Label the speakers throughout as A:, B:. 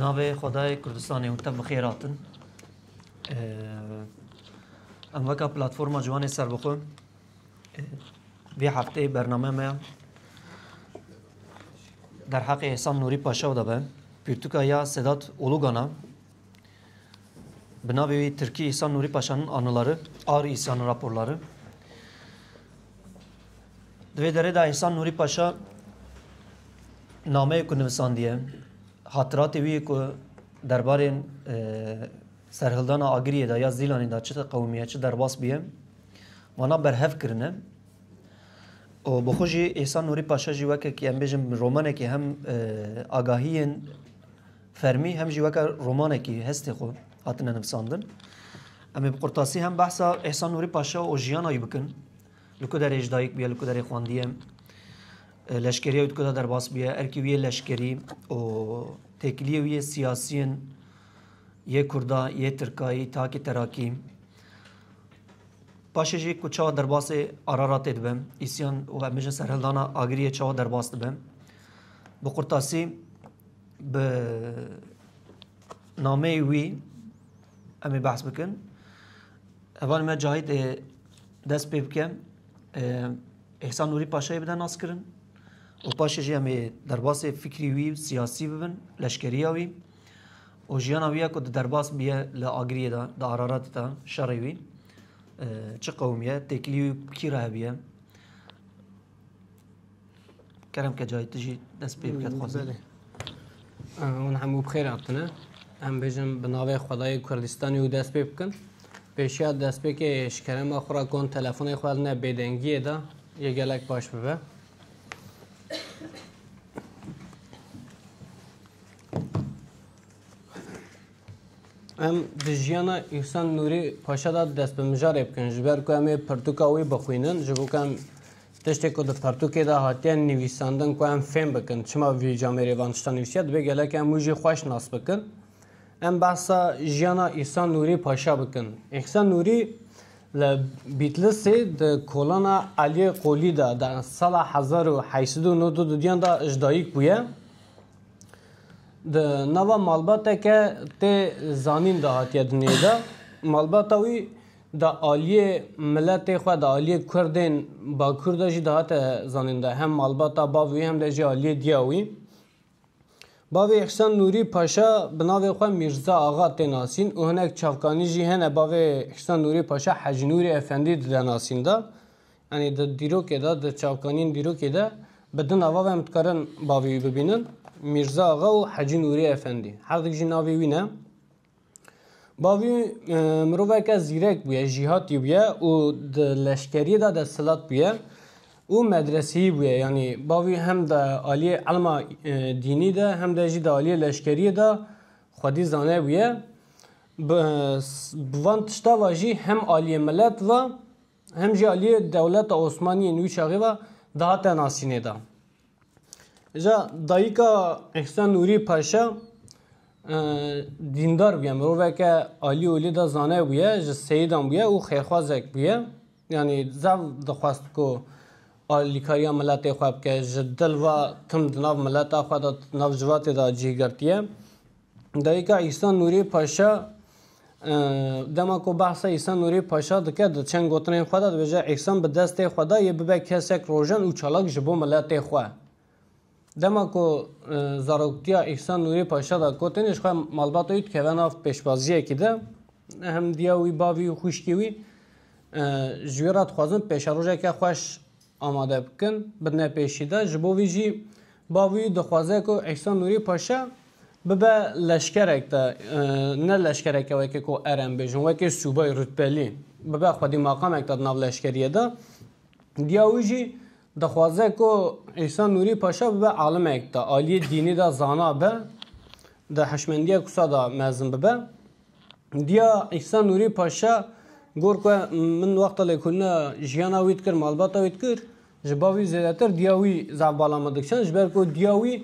A: Navê Xwedayê Kurdistanê hûn te bi xêr hatin. Em weka platforma Ciwanê Serbixwe vê hefteyê bernameya me ya derheqê Îhsan Nûrî Paşaw de be. Pirtûka ya Sedat Olûgan a. Bi navê wî Tirkî Îhsan Nûrî Paşan'ın anıları, Ağrı İsyanı raporları. Di vê derê de Îhsan Nûrî Paşa nameyê ku nivisandiye, hatıratê wî ku derbarên e, serhildana Agiriyê de ya Zîlanê de çi qewimiye, çi derbas biye, wana berhev kirine. O bi xwe jî Îhsan Nûrî Paşa jî wekek em bêjin romanekî hem e, agahiyên fermî hem jî weke romanekî hestê xwe hatine nivisandin. Em ê bi qurtasî hem behsa Îhsan Nûrî Paşa û jiyana wî bikin. Li ku derê ji dayik bûye, li ku derê xwendiye, e, leşkeriya wî di ku de derbas bûye, erkê wî yê leşkerî û têkiliyê wî yê siyasî yên yê Kurda, yê Tirkayî, takê Terakî. Paşê jî ku çawa derbasê Araratê dibe, îsyan û em bijin serhildana Agiriyê çawa derbas dibe. Bi qurtasî bi nameyê wî em ê behs bikin. Hevalê me Cahit ê dest pê bike. Hêsan Nûrî Paşayê bide naskirin û paşê jî em ê derbasê fikrî wî siyasî bibin, leşkeriya wî û jiyana wî ya ku di derbas biye li Agiriyê de, di Araratê de şerê wî çi qewimiye, têkilî wî kî re hebiye. Kerem Kecayî tu jî dest pê bike dixwazim. Belê. Hûn hemû bi xêr hatine. Em bêjin bi navê Xwedayê Kurdistanê û dest pê bikin. Pêşiya destpêkê ji kerema xwe re kon telefonê xwe ne bêdengiyê da yê gelek baş bibe. Em di jiyana Îhsan Nûrî Paşa da dest bi mijarê bikin ji ber ku em ê pirtûka wî bixwînin ji bo ku em Tiştê ku di pertûkê de hatiye nivîsandin ku em fêm bikin çima vî camêrê van tişta nivîsiye divê gelek em wî jî xweş nas bikin. Em behsa jiyana Îhsan Nûrî Paşa bikin. Îhsan Nûrî li Bîtlisê di kolana Eliyê Qolî de di sala hezar û heşt sed û nod û duyan de ji dayik bûye. Di nava malbateke tê zanîn de hatiye dinyayê de. Malbata wî Di aliyê miletê xwe, di aliyê Kurdên Bakur de jî dihate zanîn de hem malbata bav wî hem de jî aliyê diya wî. Bavê Îhsan Nûrî Paşa bi navê xwe Mîrza Axa tê nasîn û hinek çavkanî jî hene bavê Îhsan Nûrî Paşa Hecî Nûrî Efendî dide nasîn de. Yanî di dîrokê de, di çavkanîyên dîrokê de bi du nava ve em dikarin bavê wî bibînin, Mîrza Axa û Hecî Nûrî Efendî. Herdik jî navê wî ne. Bavî miroveke zîrek bûye, jîhatî bûye û di leşkeriyê de desthilat bûye û medreseyî bûye. Yanî bavî hem di aliyê elma e, dînî de hem de jî di aliyê leşkeriyê de xwedî zane bûye. Bi van tişta ve jî hem aliyê milet ve Hem jî aliyê dewleta Osmaniyê nû çaxê ve dihate nasînê de. Îja dayika Îhsan Nûrî Paşa dîndar bûye, miroveke alî olî de zane bûye, ji seyidan bûye û xêrxwazek bûye. Yanî zaf dixwest ku alîkariya miletê xwe bike, ji dil ve tim di nav mileta xwe de, di nav civatê de cih girtiye. Dayika Îhsan Nûrê Paşa dema ku behsa Îhsan Nûrê Paşa dike di çend gotinên xwe de dibêje Îhsan bi destê xwe da yê bibe kesek rojan û çalak ji bo miletê xwe. Dema ku zaroktiya Îhsan Nûrê Paşa da ku tenê ji xwe malbata wî dikeve nav pêşwaziyekî de hem diya wî bavî û xwişkê wî ji wî re dixwazin pêşerojeke xweş Amade bikin bi ne pêşî de ji bo vî jî Bavî dixwaze ku Îsa Nûrî Paşa bibe leşkerek de ne leşkereke wekî ku erem bêjin wekî sûbay rutbelî bibe xwedî maqamek de di nav leşkeriyê de diya wî jî dixwaze ku Îsa Nûrî Paşa bibe alimek de aliyê dînî de zana be di hişmendiya kusa de mezin bibe. Diya Îsa Nûrî Paşa got ku min wexta lê ku ne jiyana wî dikir, malbata wî dikir, ji ba wî zêdetir diya wî zaf bala min dikiçand ji ber ku diya wî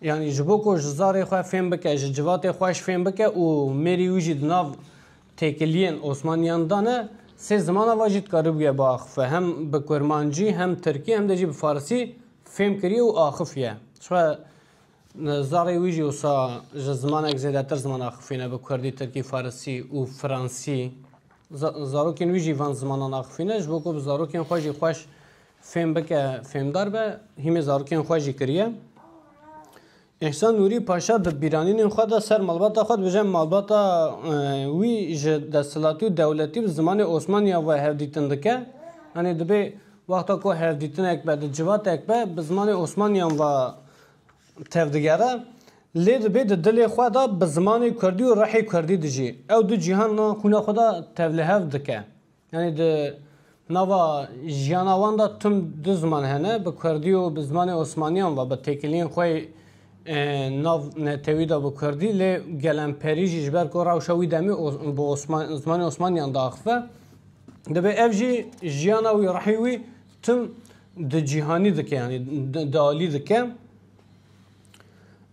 A: yanî ji bo ku ji zarê xwe fêm bike, ji civatê xwe ji fêm bike û mêrî wî jî di nav têkiliyên Osmaniyan de ne sê zimana ve jî dikaribûye biaxife. Hem bi kurmancî, hem tirkî hem de jî bi farsî fêm kiriye û axifiye. Zarê wî jî wisa ji zimanek zêdetir zimana axifî ne bi kurdî, tirkî, farisî û fransî. Zarokên wî jî van zimanan axifî ne ji bo ku bi zarokên xwe jî xweş fêm bike, fêmdar be, hîmê zarokên xwe jî kiriye. Îhsan Nûrî Paşa bi bîranînên xwe de ser malbata xwe dibêje malbata wî ji desthilatî û dewletî bi zimanê Osmaniya ve hevdîtin dike. Yanî dibê wexta ku hevdîtinek be di civatek be bi zimanê Osmaniyan ve tevdigere lê dibê di dilê xwe de bi zimanê kurdî û rehê kurdî dijî. Ew du cîhana xwîna xwe de tevlihev dike. Yanî di nava jiyana wan de tim du ziman hene, bi kurdî û bi zimanê osmaniyan ve bi têkiliyên xwe nav netewî de bi kurdî lê gelemperî jî ji ber ku rewşa wî demê bi zimanê osmaniyan diaxive. Dibê ev jî jiyana wî, rehî wî Tim di cîhanî dike yanî di alî dike.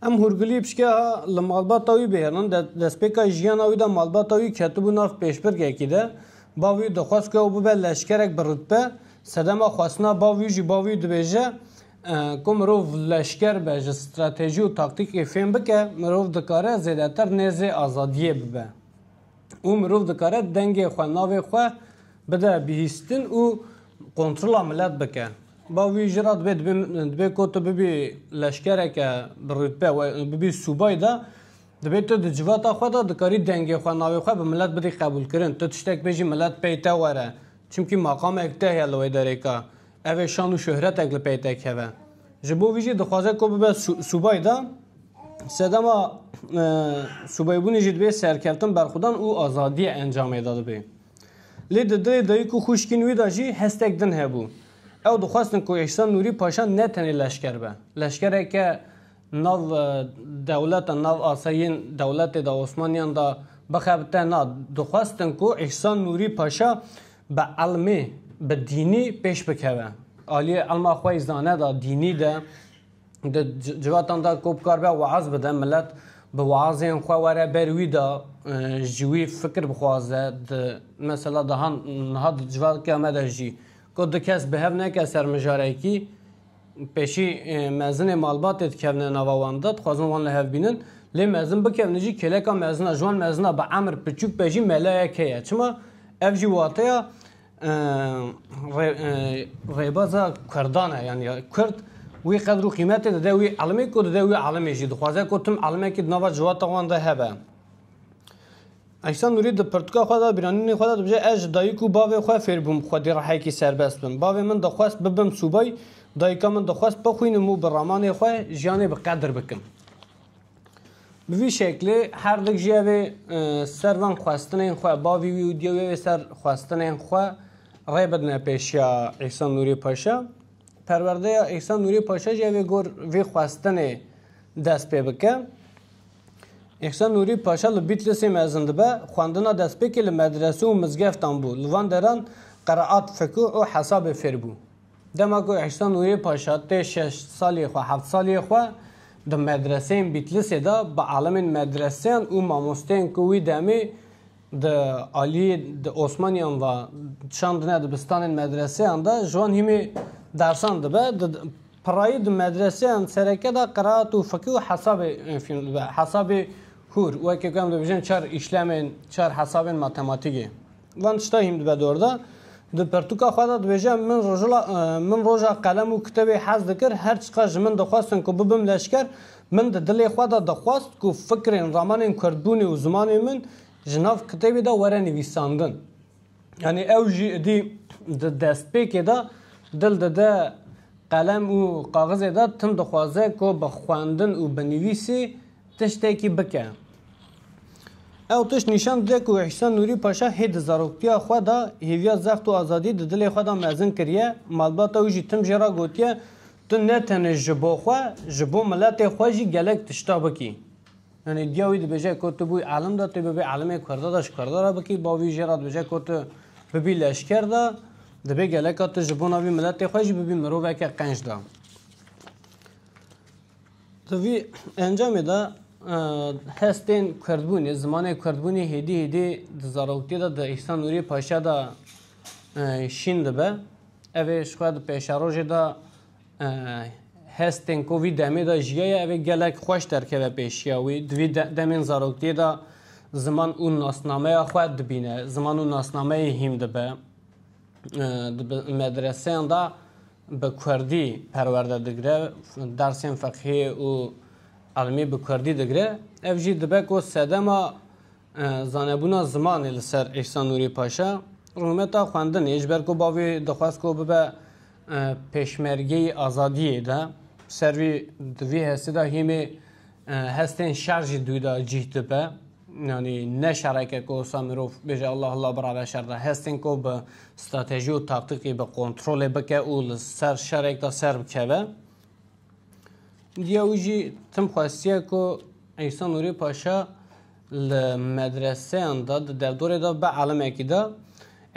A: Em hûrgulî pişka li malbata wî bêherin de destpêka jiyana wî de malbata wî ketibû nav pêşbirgekî de bav wî dixwest ku ew bibe leşkerek bi rutbe sedema xwestina bav wî jî bav wî dibêje ku mirov leşker be ji stratejî û taktîkê fêm bike mirov dikare zêdetir nêzê azadiyê bibe. û mirov dikare dengê xwe navê xwe bide bihîstin û kontrola milet bike. Ba wî jî re dibê dibê ku tu bibî leşkereke bi rûtbe we bibî sûbay de dibê tu di civata xwe de dikarî dengê xwe navê xwe bi milet bidî qebûlkirin. Tu tiştek bê jî milet pey te were. Çimkî maqamek te heye li wê derêka. Ev ê şan û şohretek li pey te keve. Ji bo vî jî dixwaze ku bibe subay de sedema subaybûnê jî dibê serkeftin, berxwedan û azadiya encamê de dibê. Lê di dilê dayik û xwişkên wî de jî hestek din hebû. Ew dixwestin ku Îhsan Nûrî Paşa ne tenê leşker be. Leşkereke nav dewleta, nav asayên dewletê de, Osmaniyan de bixebite na. Dixwestin ku Îhsan Nûrî Paşa Bi elmî, bi dînî pêş bikeve. Aliyê elma xwe yî zane da dînî de di civatan de ku bikar be weaz bide, milet bi weazên xwe were ber wî de ji wî fikir bixwaze. Di mesela daha niha di civaka me de jî ku du kes bi hev neke ser mijarekî, Pêşî mezinê malbatê dikevne nava wan de, dixwazin wan li hev bînin. Lê mezin bikevne jî kêleka mezina ji wan mezina bi emir piçûk be jî melayek heye. Çima? Ev jî wateya rêbaza Kurdan e yani Kurd wî qedr û qîmetê dide wî elimê ku dide wî elimê jî dixwaze ku tim elimekî di nava civata wan de hebe. Ayşe Nûrî di pirtûka xwe de, bîranînên xwe de dibêje, Ez ji dayik û bavê xwe fêr bûm xwedî rehekî serbest bim. Bavê min dixwest bibim sûbay, dayika min dixwest bixwînim û bi ramanê xwe jiyanê bi qedir bikim. Bi vî şeklê her dik jî evê ser van xwestinên xwe, bavî wî û diyê wî evê ser xwestinên xwe rê bidine pêşiya Ayşe Nûrî Paşa. Perwerdeya Ayşe Nûrî Paşa jî evê gor vî xwestinê dest pê bike. Îhsan Nûrî paşa li Bîtlisê mezin dibe, xwendina destpêkê li medrese û mizgeftan bû, li van deran qiraat, fikû û hesabê fêr bû. Dema ku Îhsan Nûrî paşa tê şeş saliyê xwe, heft saliyê xwe di medreseyên Bîtlisê de bi alimên medreseyan û mamosteyên ku wî demê di aliyê di Osmaniyan ve şandine dibistanên medreseyan de ji wan hîmê dersan dibe, di Pirrayî di medreseyan sereke de qiraat û fiqî û hesabê fîm dibe. Hesabê hûr, weke ku em dibêjin çar îşlemên, çar hesabên matematîkê. Van tişta hîm dibe dor de. Di pirtûka xwe de dibêje min rojila min roja qelem û kitêbê hez dikir, her çiqas ji min dixwestin ku bibim leşker, min di dilê xwe de dixwest ku fikrên ramanên kurdbûnê û zimanê min ji nav kitêbê de were nivîsandin. Yanî ew jî idî di destpêkê de dil dide qelem û kaxizê de tim dixwaze ku bi xwendin û bi nivîsî tiştekî bike. Ew tişt nîşan dide ku Îhsan Nûrî Paşa hê di zaroktiya xwe de hêviya zext û azadî di dilê xwe de mezin kiriye, malbata wî jî tim jê re gotiye, Tu ne tenê ji bo xwe, ji bo miletê xwe jî gelek tişta bikî. Yanî duya wî dibêje ku tu bûyî alim de, tu bibî alimê kurda de ji kurda re bikî, bo wî jê re dibêje ku tu bibî leşker de, dibê geleka tu ji bona vî miletê xwe jî bibî miroveke qenc de. Di vî encamê de hestên kurdbûnê, zimanê kurdbûnê hêdî hêdî di zaroktiyê de di Îhsan Nûrî Paşa de şîn dibe. Ev ê ji xwe di pêşerojê de Hestên ku vî demê de jiyaye ev ê gelek xweş derkeve pêşiya wî. Di vî demên zaroktiyê de ziman û nasnameya xwe dibîne, ziman û nasnameyê hîm dibe. Di medreseyan de bi kurdî perwerde digire, dersên feqhiyê û elmî bi kurdî digire. Ev jî dibe ku sedema Zanebûna zimanê li ser Îhsan Nûrî Paşa rûmeta xwendinê ji ber ku bavê dixwest ku bibe pêşmergeyî azadiyê de bi ser vî di vî hestê de hîmê hestên şer jî dû de cîh dibe. Yanî ne şereke ku wisa mirov bêje Allah Allah birabe şer de hestên ku bi stratejî û taktîkî bi kontrolê bike û li ser şerek de ser bikeve. Diya wî jî tim xwestiye ku Îsa Nûrî Paşa li medreseyan de di derdorê de bi elimekî de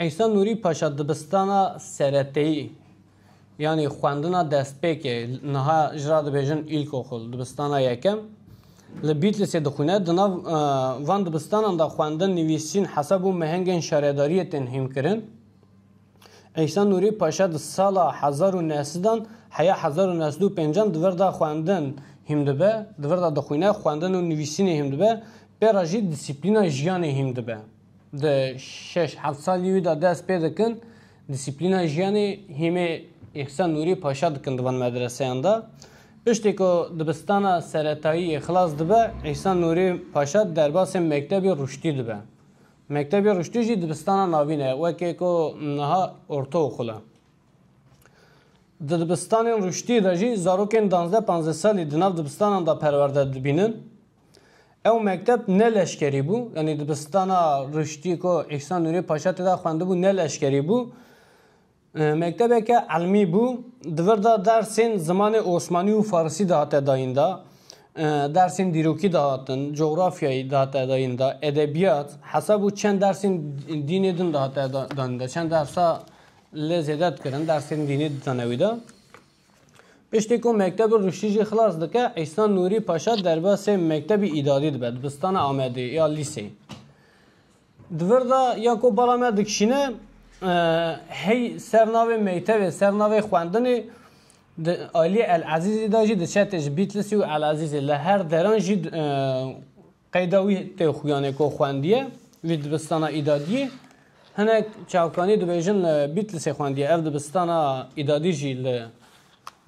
A: Îsa Nûrî Paşa dibistana sereteyî yanî xwendina destpêkê niha ji ra dibêjin îlkoxul dibistana yekem li Bîtlisê dixwîne. Di nav e, van dibistanan de xwendin, nivîsîn, hesab û mehengên şaredariyê tên hîmkirin. Îhsan Nûrî Paşa di sala hezar û neh sedan heya hezar û neh sed û pêncan di vir de xwendin hîm dibe, di vir de dixwîne, xwendin û nivîsînê hîm dibe, pê re jî dîsîplîna jiyanê hîm dibe. Di şeş heft salî wî de dest pê dikin dîsîplîna jiyanê hîmê Îhsan Nûrî Paşa dikin di van medreseyan de. Piştî ku dibistana seretayî yê xilas dibe, Îhsan Nûrî Paşa derbasê mektebê Rûştî dibe. Mektebê Ruştî jî dibistana navîn e, wekê ku niha ortaokul e. Di dibistanên Ruştî de jî zarokên danzdeh panzdeh salî di nav dibistanan de perwerde dibînin. Ew mekteb ne leşkerî bû, yanî dibistana Ruştî ku Îhsan Nûrî Paşa tê de xwendibû ne leşkerî bû. Mektebeke elmî bû, di vir de dersên zimanê osmanî û farisî dihate dayîn da, dersên dîrokî dihatin, cografyayî dihate dayîn da, edebiyat, hesab û çend dersên dînê din dihate danîn da. Çend dersa lê zêde dikirin, dersên dînê ditane wî de. Piştî ku mektebê Ruştî jî xilas dike, Îhsan Nûrî Paşa derbasê mektebî îdadî dibe, dibistana Amedê ya lîseyê. Di vir de ya ku bala me dikişîne hey ser navê mektevê, ser navê xwendinê di aliyê El Ezîzê de jî diçe tê ji Bîtlisî û El Ezîzê. Li her deran jî qeyda wî tê xuyanê ku xwendiye wî dibistana îdadiyê. Hinek çavkanî dibêjin li Bîtlisê xwendiye. Ev dibistana îdadî jî li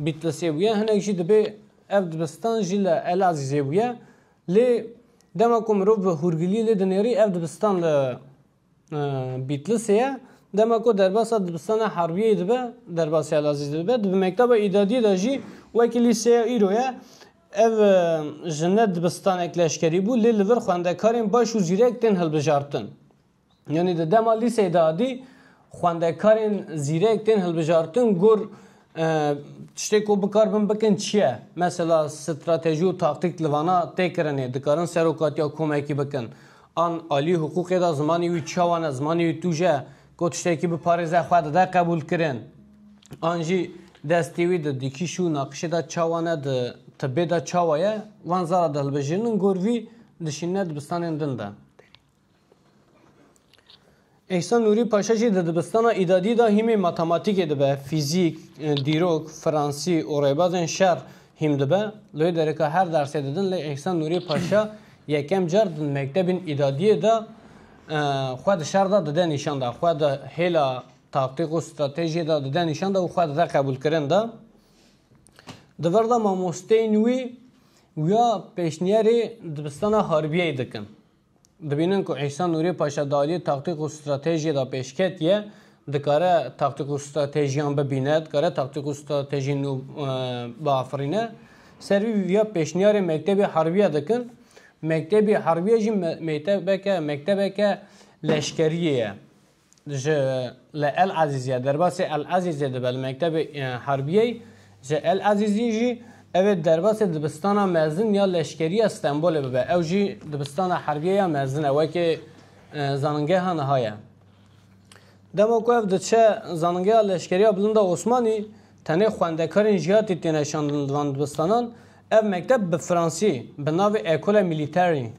A: Bîtlisê bûye. Hinek jî dibê ev dibistan jî li El Ezîzê bûye. Lê dema ku mirov bi hûrgilî lê dinêrî ev dibistan li Bîtlisê ye. Dema ku derbasa dibistana Harbiyeyê dibe, derbasîya li Azîzê dibe, di bi mekteba îdadiyê de jî wekî lîseya îro ye. Ev ji ne dibistanek leşkerî bû lê li vir xwendekarên baş û zîrek tên hilbijartin. Yanî di dema lîseyê de adî xwendekarên zîrek tên hilbijartin gur e, tiştê ku bikar bin bikin çi ye? Mesela stratejî û taktîk li vana tê kirinê dikarin serokatiya komekî bikin. An alî hiqûqê de zimanî wî çawa ne, zimanî wî tûj e ku tiştekî biparêze xwe dide qebûlkirin. An jî destê wî di dikîş û naqişê de çawa ne di tibê de çawa ye, van zara di hilbijirinin gur vî dişînine dibistanên din de. Îhsan Nûrî Paşa jî di dibistana îdadî de hîmê matematîkê dibe, fîzîk, dîrok, fransî û rêbazên şer hîm dibe. Li wê derê ka her dersê didin lê Îhsan Nûrî Paşa yekem car di mektebên îdadiyê de xwe di şer de dide nîşan de, xwe di hêla taktîk û stratejiyê de dide nîşan de û xwe dide qebûlkirin de. Di vir de mamosteyên wî wiya pêşniyarê dibistana harbiyeyê dikin. Dibînin ku Îsa Nûrê Paşa di aliyê taktîk û stratejiyê de pêş ketiye, dikare taktîk û stratejiyan bibîne, dikare taktîk û stratejiyên nû biafirîne. Ser vî vîya pêşniyarê mektebê harbiye dikin. Mektebê harbiye jî mektebeke mektebeke leşkeriyê ye. Ji li El Ezîzê derbasê El Ezîzê dibe li mektebê harbiyê ji El Ezîzê jî ev ê derbasê dibistana mezin ya leşkerî ya Stenbolê bibe ew jî dibistana harbiyê ya mezin e wekî zaningeha niha ye. Dema ku ev diçe zaningeha leşkerî ya Bilind a Osmanî tenê xwendekarên jiyatî têne şandin di van dibistanan ev mekteb bi fransî bi navê Ecole Militaire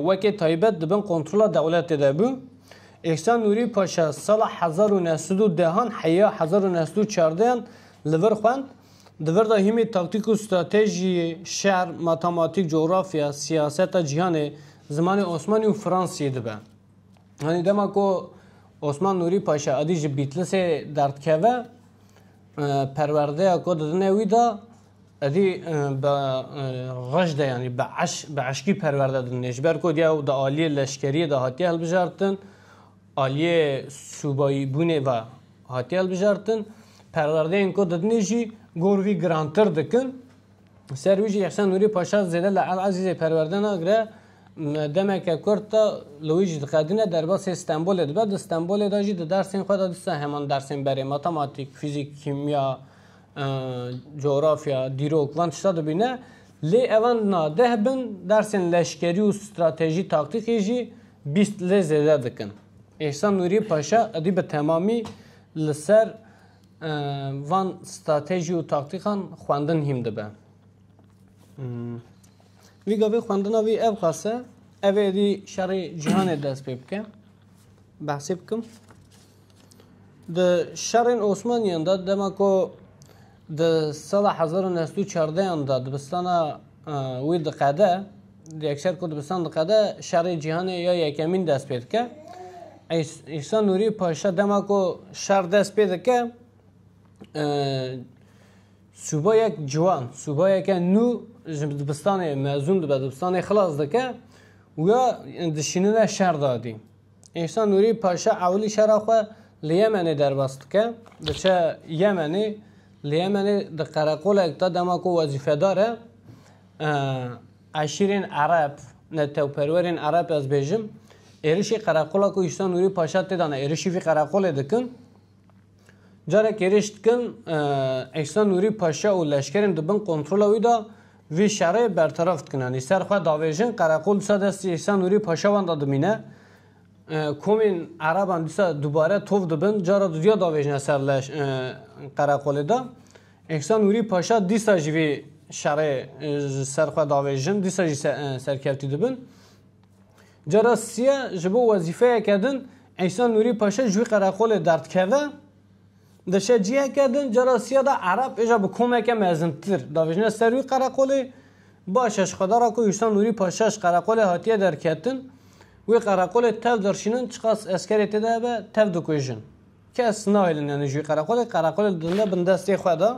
A: Weke taybet di bin kontrola dewletê de bû. Îhsan Nûrî Paşa sala hezar û neh sed û dehan heya hezar û neh sed û çardehan li vir xwend. Di vir de hîmê taktîk û stratejiyê, şer, matematîk, cografya, siyaseta cîhanê, zimanê Osmanî û Fransî dibe. Yanî dema ku Osman Nûrî Paşa edî ji Bîtlisê derdikeve, perwerdeya ku didine wî de, Edî bi rej de yanî bi eş bi eşkî perwerde didin ji ber ku diya û di aliyê leşkeriyê de hatiye hilbijartin aliyê sûbayîbûnê ve hatiye hilbijartin perwerdeyên ku didinê jî gor wî girantir dikin ser wî jî Îhsan Nûrî Paşa zêde li El Ezîzê perwerde nagire demeke kurt de li wî jî diqedîne derbasê Stenbolê dibe di Stenbolê de jî di dersên xwe de dîsa heman dersên berê matematîk, fîzîk, kîmya, Coğrafya, dîrok van tişta dibîne. Lê evan na deh bin dersên leşkerî û stratejî taktîkî jî bîst lê zêde dikin. Îhsan Nûrî Paşa edî bi temamî li ser van stratejî û taktîkan xwendin hîm dibe. Vî gavê xwendina vî ev xas e. Ev êdî şerê cîhanê dest pê bike. Behsê bikim. Di şerên Osmaniyan de dema ku di sala hezar û neh sed û çardeyan de dibistana wî diqede, yekser ku dibistan diqede şerê cîhanê ya yekemîn dest pê dike. Îsa Nûrî Paşa dema ku şer dest pê dike sûbayek ciwan, sûbayeke nû ji dibistanê mezûn dibe, dibistanê xilas dike û ya dişînine şer dadî. Îhsan Nûrî paşa ewilî şera xwe li Yemenê derbas dike. Diçe Yemenê. Li Yemenê di qereqolek de dema ku wezîfedar e eşîrên Ereb, netewperwerên Ereb ez bêjim, êrişî qereqola ku Îhsan Nûrî paşa tê de ne, êrişî vî qereqolê dikin. Carek êrîş dikin, Îhsan Nûrî Paşa û leşkerên di bin kontrola wî de vî şerê berteraf dikin. Yanî ser xwe davêjin, qereqol dîsa destê Îhsan Nûrî Paşa wenda dimîne. Komên ereban dîsa dubare tov dibin, cara duduya davêjine ser leş qereqolê de. Îhsan Nûrî Paşa dîsa jî vî şerê ji ser xwe davêjin, dîsa jî serkevtî dibin. Cara siya ji bo wezîfeyeke din Îsa Nûrî Paşa ji wî qereqolê derdikeve. Di şeciyeke din cara siya de Ereb êja bi komeke mezintir davêjine ser wî qereqolê. Baş e ji xwedara ku Îsa Nûrî Paşa ji qereqolê hatiye derketin, wê qereqolê tev dirşînin çiqas eskerê tê de hebe tev dikujin. Kes nahêlin yanî ji wî qereqolê, qereqolê didin bindestê xwe de.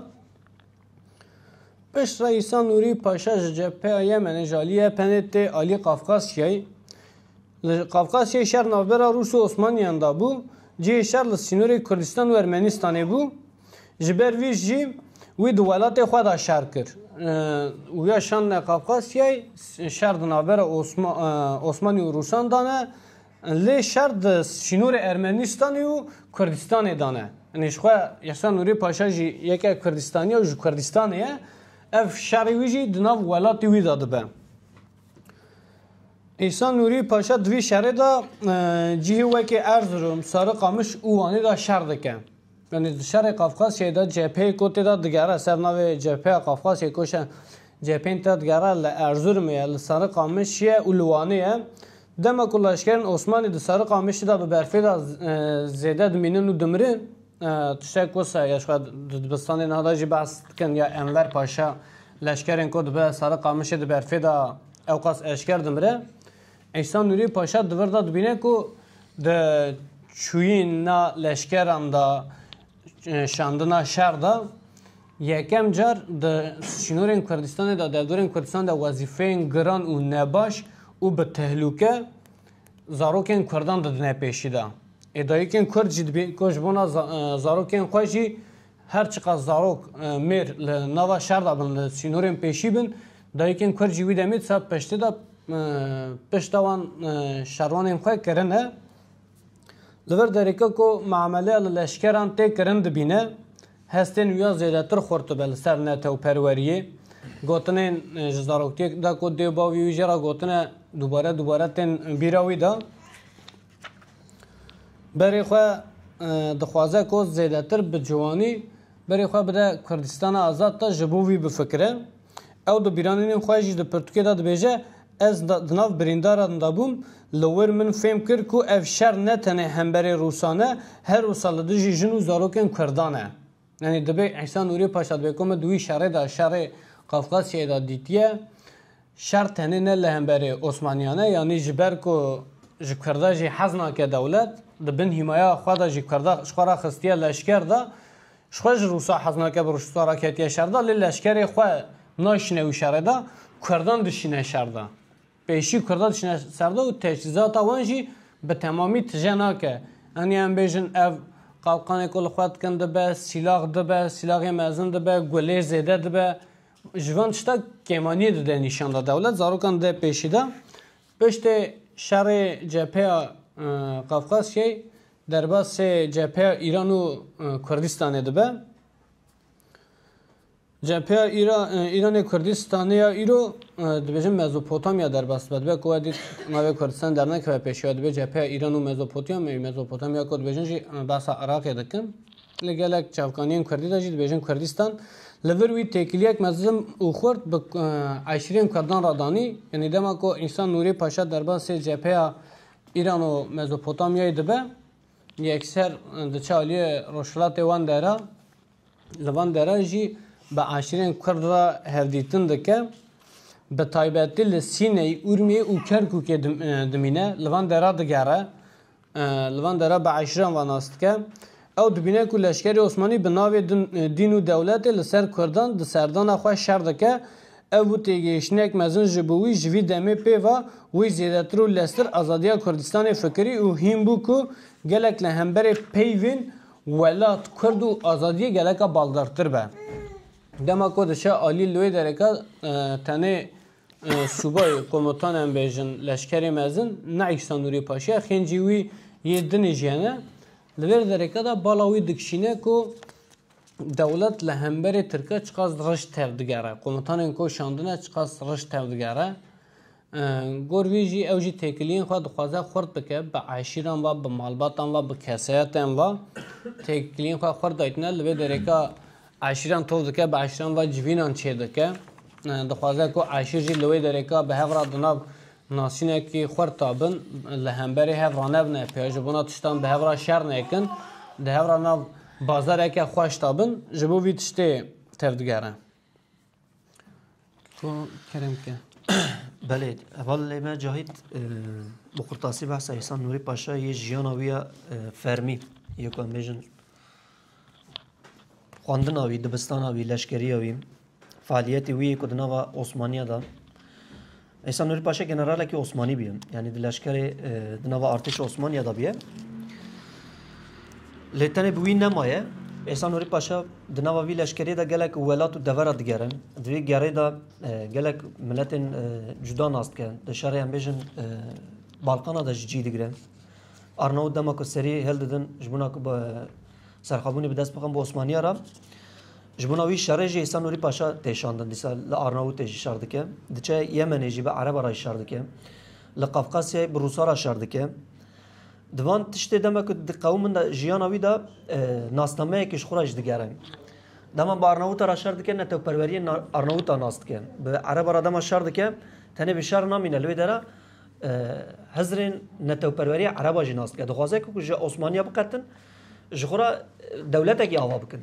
A: Piştre İsa Nuri Paşa ji cepheya Yemenê ji aliyê EPN'ê tê alî Qafqasyayê. Li Qafqasyayê şer navbera Rûs û Osmaniyan da bû. Cihê şer li sînorê Kurdistan û Ermenistanê bû. Ji ber vî jî wî di welatê xwe da şer kir. Wûya şandine Qafqasyayê şer di navbera Osmanî û Rûsan da ne. Lê şer di sînorê Ermenîstanê û Kurdistanê de ne. Ji xwe Yehsa Nûrê Paşa jî yeke Kurdistanî ye û ji Kurdistanê ye. Ev şerê wî jî di nav welatê wî de dibe. Yehsa Nûrî Paşa di vî şerê de cihê wekî Erzirom, Sari Qamiş û Wanê de şer dike. Yanî di şerê Qafqasyayê de cepheyê ku tê de digere ser navê Cepheya Qafqasyayê ku şe cepheyên tê de digere li Erzurumê ye, li Sarıqamış ye û li Wanê ye. Dema ku leşkerên Osmanî di Sarıqamışê de bi berfê de zêde dimînin û dimirin, tiştek wisa ye ji xwe di dibistanê niha de jî behs dikin ya Enver Paşa leşkerên ku dibe Sarıqamışê di berfê de ewqas eşker dimire. Îhsan Nûrî Paşa di vir de dibîne ku di çûyîna leşkeran de şandina şer de yekem car di sînorên Kurdistanê de derdorên Kurdistanê de wezîfeyên giran û nebaş û bi tehlûke zarokên Kurdan didine pêşî de. Ê dayikên Kurd jî dibînin ku ji bona zarokên xwe jî Her çiqas zarok mêr li nava şer de bin, li sînorên pêşî bin, dayikên kurd jî wî demê di ser peştê de pişta wan şervanên xwe kirine. Li vir dereke ku miameleya li leşkeran tê kirin dibîne, hestên wî ya zêdetir xurt dibe li ser netewperweriyê. Gotinên ji zaroktiyê de ku dê û bavê wî jê re gotine dubare dubare tên bîra wî de. Berê xwe dixwaze ku zêdetir bi ciwanî berê xwe bide Kurdistana Azad de ji bo wî bifikire. Ew di bîranînên xwe jî di pirtûkê de dibêje, Ez di nav birîndaran de bûm, li wir min fêm kir ku ev şer ne tenê hemberê Rûsan e, her Rûsa li dijî jin û zarokên Kurdan e. Yanî divê Îsa Nûrê Paşa divê ku me di wî şerê de, şerê Kafkasyayê de dîtiye, şer tenê ne li hemberî Osmaniyan e, yanî ji ber ku ji Kurda jî hez nake dewlet, di bin hîmaya xwe de jî Kurda ji xwe re xistiye leşker de, ji xwe ji Rûsa hez nake bi Rûsa re ketiye şer de, lê leşkerê xwe nayşîne wî şerê de, Kurdan dişîne şer de. Pêşî kurdan diçine ser de û teçîzata wan jî bi temamî tije nake. Anî em bêjin ev qalqanê ku li xwe dikin dibe, sîlax dibe, sîlaxê mezin dibe, gulê zêde dibe. Ji van tişta kêmaniyê dide nîşan da dewlet. Zarokan dê pêşî da. Piştê şerê cepheya Qafqasyayê derbasê cepheya Îran û Kurdistanê dibe. Cepheya Îranê Kurdistanê ya îro dibêjin Mezopotamya derbas dibe. Dibe ku we dît navê Kurdistan dernekeve pêşî we dibê cepheya Îran û Mezopotamyayê. Mezopotamya ku dibêjin jî behsa Iraqê dikin. Li gelek çavkaniyên Kurdî de jî dibêjin Kurdistan. Li vir wî têkiliyek mezin û xurt bi eşîrên Kurdan re danî. Yanî dema ku Îsa Nûrî Paşa derbasê cepheya Îran û Mezopotamyayê dibe yekser diçe aliyê rojhilatê wan de re. Li van deran jî bi eşîrên Kurd re hevdîtin dike. Bi taybetî li Sîneyê, Urmiyê û Kerkûkê dimîne. Li van dera digere. Li van dera bi eşîran ve nas dike. Ew dibîne ku leşkerê Osmanî bi navê dîn û dewletê li ser Kurdan di serdana xwe şer dike. Ev bû têgihiştinek mezin ji bo wî. Ji vî demê pê ve wî zêdetir û leztir azadiya Kurdistanê fikirî û hîn bû ku gelek li hemberê peyvên Welat, kurd û azadiyê geleka baldavtir be. Dema ku diçe alî li wê dereke tenê sûbay, komutan em bêjin, leşkerê mezin, ne Îsa Nûrî Paşa, xêncî wî yê dinê jî hene, li vê dereke de bala wî dikişîne ku dewlet li hemberê tirke çiqas rij tev digere, komutanên ku şandine çiqas rij tev digere. Gor vê jî ew jî têkiliyên xwe dixwaze xurt bike, bi eşîran ve, bi malbatan ve, bi kesayetên ve têkiliyên xwe xurt daytine. Li vê dereka eşîran toz dike, bi eşîran ve civînan çêdike. Dixwaze ku eşîr jî li wê dereka bi hev re di nav nasînekî xurt de bin, li hemberî hev ranevne pê, ji bona tiştan bi hev re şer nekin, di hev re nav bazareke xweş de bin, ji bo vî tiştê tevdigere. Kerem ke. Belê heval lê me cahît bi qurtasî behsa Îhsan Nûrî Paşa yê jiyana wî ya fermî yê ku em bêjin xwendina wî, dibistana wî, leşkeriya wî, faaliyetê wî yê ku di nava Osmaniya de Îsa Nûrî Paşa generalekî Osmanî bûye. Yanî di leşkerê di nava artêşa Osmaniya de bûye. Lê tenê bi wî nemaye. Îsa Nûrî Paşa di nava vî leşkerê de gelek welat û devera digerin. Di vê gerê de gelek miletên cuda nas dike. Di şerê em bêjin Balkana de ji cî digire. Arnavut dema ku serî hildidin ji bona ku serxabûnê bi dest bixin bi Osmaniya re. Ji bona wî şerê jî Îhsan Nûrî Paşa tê şandin. Dîsa li Arnavûtê jî şer dike. Diçe Yemenê jî bi Ereba re jî şer dike. Li Qafqasyayê bi Rûsa re şer dike. Di van tiştê dema ku di qewimên de jiyana wî de e, nasnameyekî ji xwe re jî digere. Dema bi Arnavûta re şer dike netewperweriyê na- Arnavûta nas dike. Bi Ereba re dema şer dike tenê bi şer namîne li wê dere e, hizirên netewperweriyê Ereba jî nas dike. Dixwaze ku ji Osmaniya biqetin Ji xwe re dewletekî ava bikin.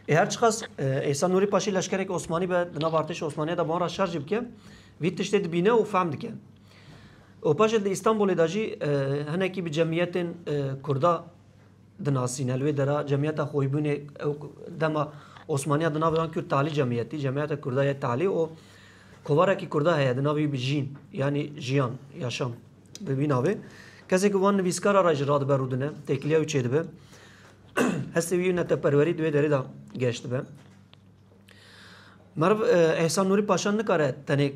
A: Ê her çiqas Îhsan Nûrî Paşî leşkerekî Osmanî be di nav artêşa Osmaniya de bi wan re şer jî bike, vî tiştê dibîne û fehm dike. Û paşê di Îstanbûlê de jî hinekî bi cemiyetên Kurda dinasîne. Li wê dera cemiyeta Xoybûnê ew dema Osmaniya di navê wan kir Talî cemiyetî, cemiyeta Kurda ye Talî û kovarekî Kurda heye di navê wî bi Jîn yanî jiyan, yaşam. Bi vî navê kesê ku van nivîskara re jî radibe rûdine, têkiliya wî çêdibe. Hestê wî û neteperwerî di wê derê de geş dibe. Meriv Ehsan Nûrî Paşa nikare tenê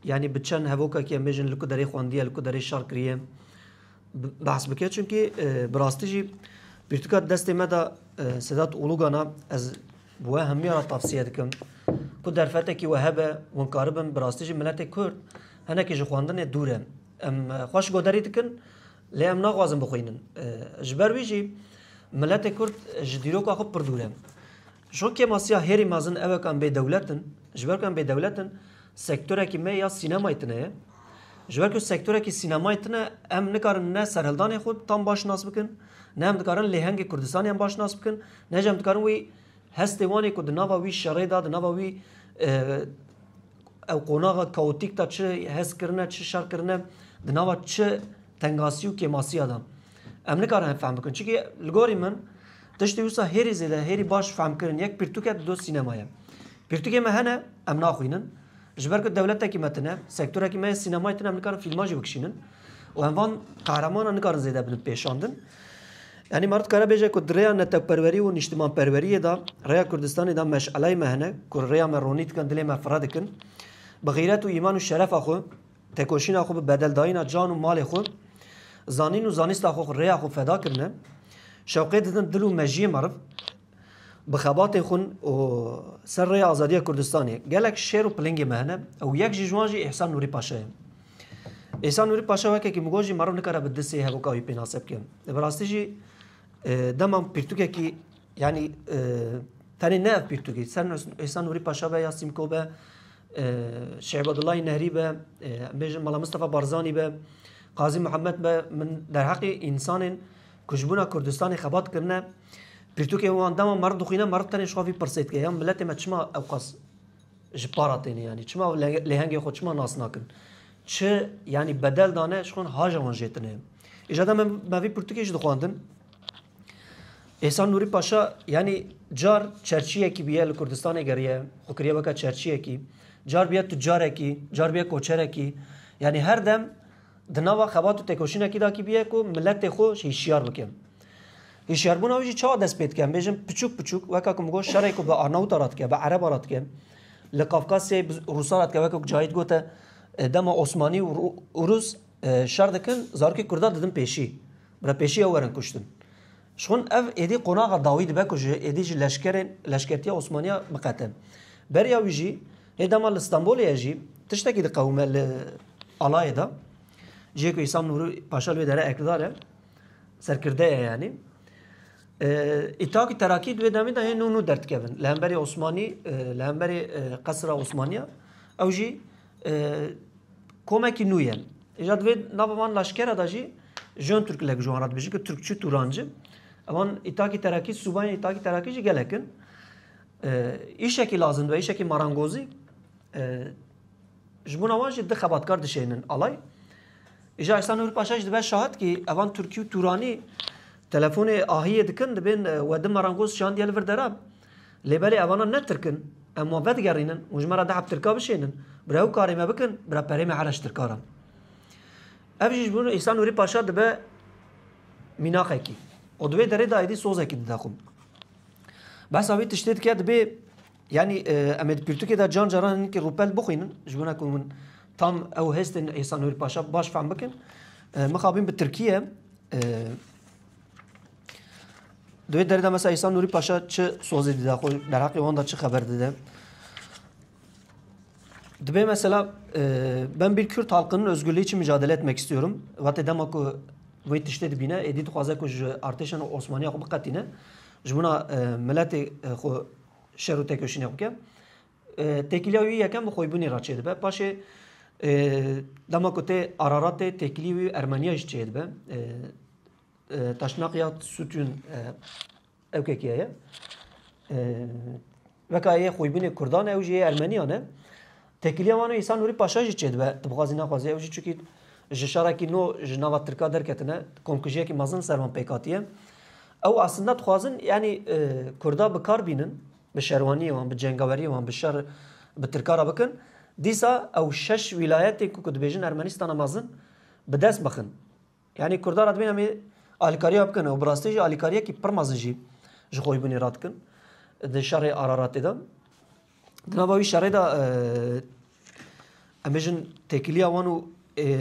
A: yanî bi çend hevokekî em bêjin li ku derê xwendiye, li ku derê şer kiriye behs bike çunkî bi rastî jî pirtûka destê me de Sedat Ulugana ez We hemûyan re tavsiye dikim ku derfetekî we hebe winkaribin bi rastî jî miletê Kurd hinekî ji xwendinê dûr e. Em xweş goderî dikin lê em naxwazin bixwînin. Ji ber wî jî miletê Kurd ji dîroka xwe pir dûr e. Şo kêmasiya hêrî mezin ew e ku em bêdewlet in. Ji ber ku em bêdewlet in sektorekî me ya sînemayê tune ye. Ji ber ku sektorekî sînemayê tune em nikarin ne serhildanê xwe tam baş nas bikin ne em dikarin lêhengê Kurdistanê em baş nas bikin. Neh jî em dikarin wî hestê wanê ku di nava wî şerê de, di nava wî ew qonaxa kaotîk de çi hest kirine, çi şer kirine, di nava çi tengasî û kêmasiya de. Em nikarin hev fehm bikin. Çikî li gorî min tiştê wisa hêrî zêde, hêrî baş fehmkirin yek pirtûk e di doh sînema ye. Pirtûkê me hene em naxwînin. Ji ber ku dewletekî me tune, sektorekî me yê sînemayê tune em nikarin fîlman jî bikişînin û em van qahremanan nikarin zêde bibin pêşandin. Yanî me dikare bêje ku di rêya netewperwerî û nîştimanperweriyê de rêya Kurdistanê de meşeleyê me hene ku rêya me ronî dikin, dilê me fire dikin. Bi xîret û îman û şerefa xwe, tekoşîna xwe, bi bedeldayîna can û malê xwe, zanîn û zanîsta xwe, rêya xwe feda kirine. Şewqê didin dil û mejiyê meriv. Bi xebatên xwe û ser rêya azadiya Kurdistanê gelek şêr û pilingê me hene û yek ji wan jî Îhsan Nûrî Paşa ye. Îhsan Nûrî Paşa wekekî migo jî meriv nikare bi disê hevoka wî pênase bike. Bi rastî jî dema pirtûkekî yanî tenê ne ev pirtûkî ser Îhsan Nûrî Paşa be ya Sîmko be Şehbadullayî Nehrî be em bêjin Mala Mistefa Barzanî be Qazî Mihemed be min derheqê însanên ku ji bona Kurdistanê xebat kirine Pirtûkên wan dema meriv dixwîne meriv tenê ji xwe vî pirsê dike ya miletê me çima ewqas ji para têne yanî çima ew lêhengê xwe çima nas nakin çi yanî bedel dane ji xwe haja wan jê tine îja de me vî pirtûkê jî dixwandin Êsan Nûrî Paşa yanî car çerçiyekî bûye li Kurdistanê geriye xwe kiriye weke çerçiyekî car bûye tucarekî car bûye koçerekî yanî her dem di nava xebat û têkoşînekî dakî bûye ku miletê xwe hîşyar bike. Hişyarbûna wî jî çawa dest pê dike? Em bêjin piçûk piçûk weka ku min got şerê ku bi Arnawita re dike, bi Ereban re dike, li Kafkasyayê bi Rûsan re dike weka ku Cahît gote e, dema Osmanî û Rûs e, şer dikin zarokê Kurdan didin pêşî. Bira pêşî ew werin kuştin. Ji xwin ev êdî qonaxa dawî dibe ku ji êdî ji leşkerên leşkertiya Osmaniya biqete. Beriya wî jî hê dema li Stenbolê ye jî tiştekî diqewime li alayê de. Cihê ku Îsam Nûrî Paşa li wê dere ekdar e. Serkirdeye yanî. İtakî terakî di wê demê de hê nû nû derdikevin. Li hemberê Osmanî, li hemberê qesira Osmaniya ew jî komekî nû ye. Îja di vê nava van laşkera de jî jon Türk lek ji wan re dibêjin ku Türkçi Tûranci. Ewan İtakî terakî, sûbayên İtakî terakî jî gelek in. Îşekî lazim dibe, îşekî marangozî. Ji bona wan jî du xebatkar dişehînin alay. Îja Îhsan Nûr Paşa jî dibe şahid kî evan Tirkî û Tûranî telefonê ahiyê dikin dibên we di merangoz şandiye li vir dera. Lê belê evanan ne Tirk in. Em wan vedigerînin û ji me re dehb Tirka bişênin. Bira ew karê me bikin, bira perê me here ji Tirkaran. Ev jî ji bo Îhsan Nûrî Paşa dibe mînaqekî. Û di wê derê de êdî sozekî dide xwe. Behsa wî tiştê dike dibê Yanî em ê di pirtûkê de can caran hinkî rûpel bixwînin ji wina ku min tam ew hestên Îsa Nûrî Paşa baş fehm bikin. Mixabîn bi Tirkiye Di wê derê de mesela Îsa Nûrî Paşa çi sozê dide xwe derheqê wan de çi xeber dide. Dibê mesela ben bir Kürt halkının özgürlüğü için mücadele etmek istiyorum. Vatê dema ku wê tiştê dibîne êdî dixwaze ku ji artêşên Osmaniya xwe biqetîne. Ji wina miletê xwe şer û tekoşînê xwe bike. Têkiliya wî yekem bi xwebûnê re çêdibe. Paşê dema ku tê Araratê têkilî wî Ermeniya jî çêdibe. Taşnaqiya Sûtûn ewkekiye ye. Veka yê xwebûnê Kurdan ew jî yê Ermeniyan e. Têkiliya Wano Îsa Nûrî Paşa jî çêdibe, dibixwazî nexwazî ew jî çikî ji şarekî no ji nava tirka derketine, komkujiyekî mezin li ser wan pêk hatiye. Ew aslinde dixwazin yanî kurda bi kar bînin, bi şerwaniyê wan, bi cengaweriyê wan, bi şer bi tirka re bikin. Dîsa ew şeş wîlayetê ku dibêjin Ermenîstana mezin bi dest bixin. Yanî Kurdan re dibînin em ê alîkariya bikin û bi rastî jî alîkariyekî pir mezin jî ji xwebûnê re dikin di şerê Araratê de. Di nava wî şerê de em bêjin têkiliya wan û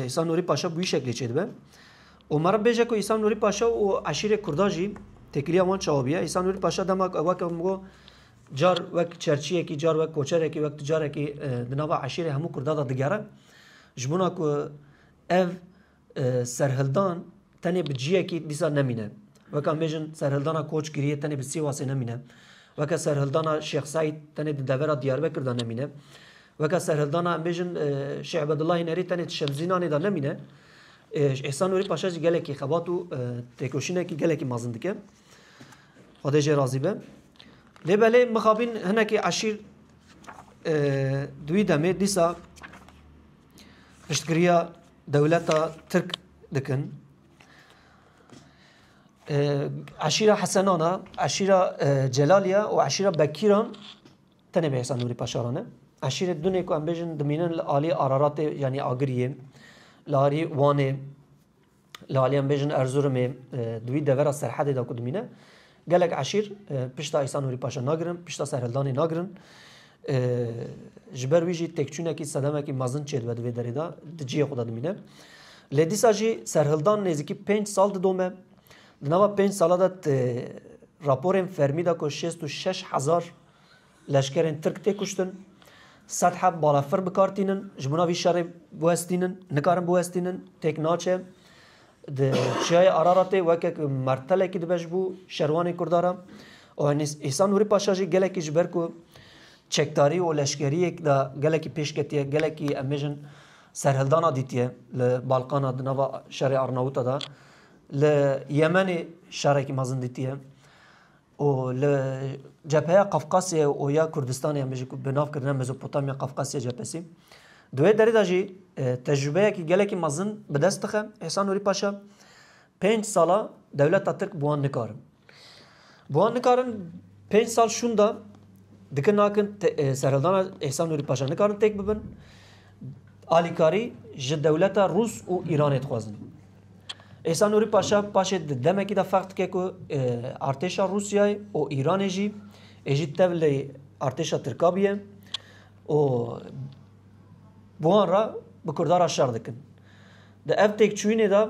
A: Îsa Nûrî Paşa bi wî şeklê çêdibe. û meriv bêje ku Îsa Nûrî Paşa û eşîrê Kurda jî têkiliya wan çawa bûye. Îsa Nûrî Paşa dema weke min got car wek çerçiyekî, car wek koçerekî, wek ticarekî di nava eşîrê hemû Kurda de digere. Ji bona ku ev Serhildan tenê bi ciyekî dîsa nemîne. Weke em bêjin serhildana Koçgiriyê tenê bi Sîwasê nemîne. Weke serhildana Şêx Seîd tenê di devera Diyarbekir de nemîne. Weke serhildana em bêjin Şêx Ebedullah Hênerî tenê di Şemzînanê de nemîne. Îhsan Nûrî Paşa jî gelekî xebat û têkoşînekî gelekî mezin dike. Xwedê jê razî be. Lê belê mixabîn hinekî eşîr di wî demê dîsa Piştgiriya dewleta Tirk dikin. Eşîra Hesenan e, eşîra Celal ye û eşîra Bekîran tenê bi hêsa Nûrî Paşaran e. Eşîrê Dunê ku em bêjin dimînin li aliyê Araratê yanî Agiriyê, li aliyê Wanê, Li aliyê em bêjin Erzurumê di wî devera serhedê de ku dimîne gelek eşîr pişta Îsa Nûrî Paşa nagirin, pişta serhildanê nagirin. Ji ber wî jî têkçûnekî sedemekî mezin çêdibe di vê derê de di ciyê xwe de dimîne. Lê dîsa jî serhildan nêzîkî pênc sal didome. Di nava pênc sala de raporên fermî de ku şêst û şeş hezar Leşkerên Tirk tê kuştin. Sed heb balafir bi kar tînin. Ji bona vî şerê biwestînin. Nikarin biwestînin. Têk naçe. Di Çiyayê Araratê weke ku mertelekî dibe ji bo şerwanên Kurdan re. Û Îhsan Nûrî Paşa jî gelekî ji ber ku çekdarî û leşkeriyek de gelekî pêş ketiye, gelekî em bêjin serhildana dîtiye li Balkana di nava şerê Arnawita de. Li Yemenê şerekî mezin dîtiye. û li Cepheya Qafqasyayê û ya Kurdistanê em bê jî bi nav kirine Mezopotamya Qafqasya Cephesi di wê derê de jî tecrûbeyekî gelekî mezin bi dest dixe. Îhsan Nûrî Paşa pênc sala dewleta Tirk bi wan nikarin. Bi wan nikarin pênc sal şûn da dikin nakin serhildana Îhsan Nûrî Paşa nikarin têk bibin. Alîkarî ji dewleta Rûs û Îranê dixwazin. Îhsan Nûrî Paşa paşê di demekî de ferq dike ku artêşa Rûsyayê û Îranê jî ê jî tev lê artêşa Tirka biye û bi wan re bi Kurda re şer dikin. Di ev têkçûyînê de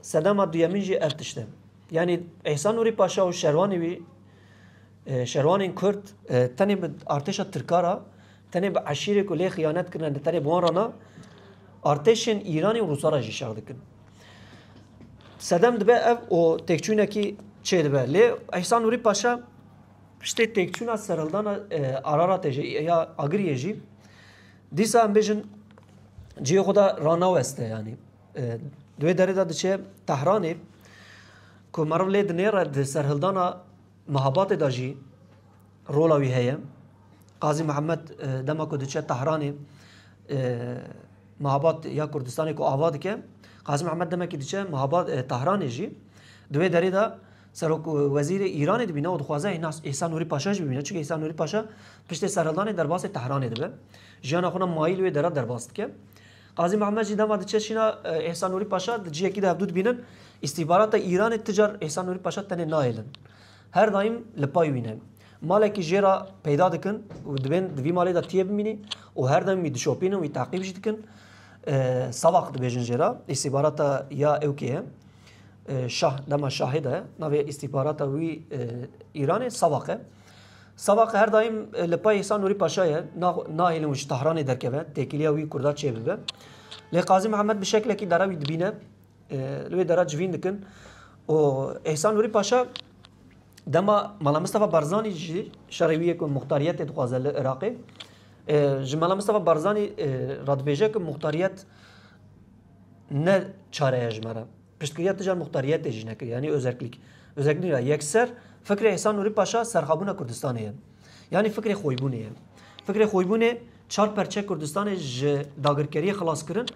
A: sedema duyemîn jî ev tişt e. Yanî Îhsan Nûrî Paşa û şerwanê wî şerwanên Kurd tenê bi artêşa Tirka re Tenê bi eşîrê ku lê xiyanet kirine ne tenê bi wan re na, artêşên Îranê û Rûsa re jî şer dikin. Sedem dibe ev û têkçûnekî çê dibe. Lê Îhsan Nûrî Paşa piştê têkçûna serhildana e, Araratê jî ya Agiriyê jî dîsa em bêjin cihê xwe de ranaweste yanî. E, Di wê derê de diçe Tehranê ku meriv lê dinêre di serhildana Mihabatê de jî rola wî heye. Qazî Mihemed dema ku diçe Tehranê Mihabat ya Kurdistanê ku ava dike. Qazî Mihemed demekî diçe Mihabat Tehranê jî di wê derê de Serok Wezîrê Îranê dibîne û dixwaze Îhsan Nûrî Paşa jî bibîne. Çunke Îhsan Nûrî Paşa piştê serhildanê derbasê Tehranê dibe. Jiyana xwe ne mayîl wê dere derbas dike. Qazî Mihemed jî dema diçe şîna Îhsan Nûrî Paşa di ciyekî de hevdû dibînin. Îstîhbarata Îranê ti car Îhsan Nûrî Paşa tenê nahêlin. Her daîm li pay wî ne. Malekî jê re peyda dikin û dibên di vî malê de tiyê bimînî û her daîm wî dişopînin, wî teqîb jî dikin. Savaq dibêjin jê re. Îstîhbarata ya ewkê ye. Şah dema şahê de navê îstîhbarata wî Îranê Savaq e. Sava qe her daîm li pay Îhsan Nûrî Paşa ye, nahêlin û ji Tehranê derkeve, têkiliya wî Kurda çêbibe. Lê Qazî Mihemed bi şeklekî dera wî dibîne, li wê dera civîn dikin û Îhsan Nûrî Paşa dema Mala Mistefa Barzanî jî şerê wî yek ku muxtariyetê dixwaze li Iraqê ji Mala Mistefa Barzanî radibêje ku muxtariyet ne çare ye ji me re. Piştgiriya tija muxtariyetê jî nekiriye yanî özerklîk. Özerklîk ra yekser fikrê Îhsan Nûrî Paşa serxabûna Kurdistanê ye. Yanî fikrê xwebûnê ye. Fikrê xwebûnê çar perçe Kurdistanê ji dagirkeriyê xilas kirin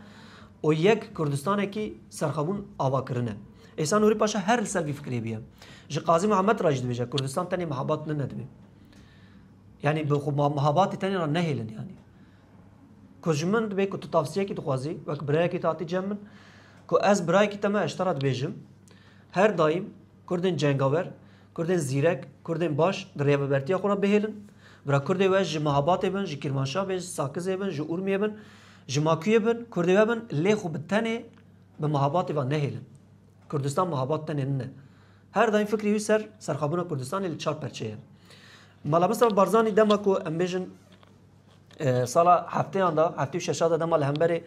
A: û yek Kurdistanekî serxabûn ava kirine. Îhsan Nûrî Paşa her li ser vî fikrê bûye. Ji Qazî Mihemed ra jî dibêje Kurdistan tenê mihebat nine dibe. Yanî bi xwe mihebatê tenê ra nehêlin yanî. Ku ji min dibê ku tu tavsiyekî dixwazî wek birayekî tu hatî cem min ku ez birayekî te me ji te re dibêjim her daîm Kurdên cengawer, Kurdên zîrek, Kurdên baş di rêvebertiya xwe re bihêlin. Bira Kurdê we ji Mehabatê bin, ji Kîrmanşah bê, ji Sakizê bin, ji Urmiyê bin, ji Makuyê bin, Kurdê we bin lê xwe bi tenê bi Mehabatê ve nehêlin. Kurdistan Mehabat tenê min e. Her daîm fikrê wî ser serxwebûna Kurdistanê li çar perçeyê. Mala Mustafa Barzanî dema ku em bêjin Sala hefteyan da, heftê û şeşa da dema li hemberê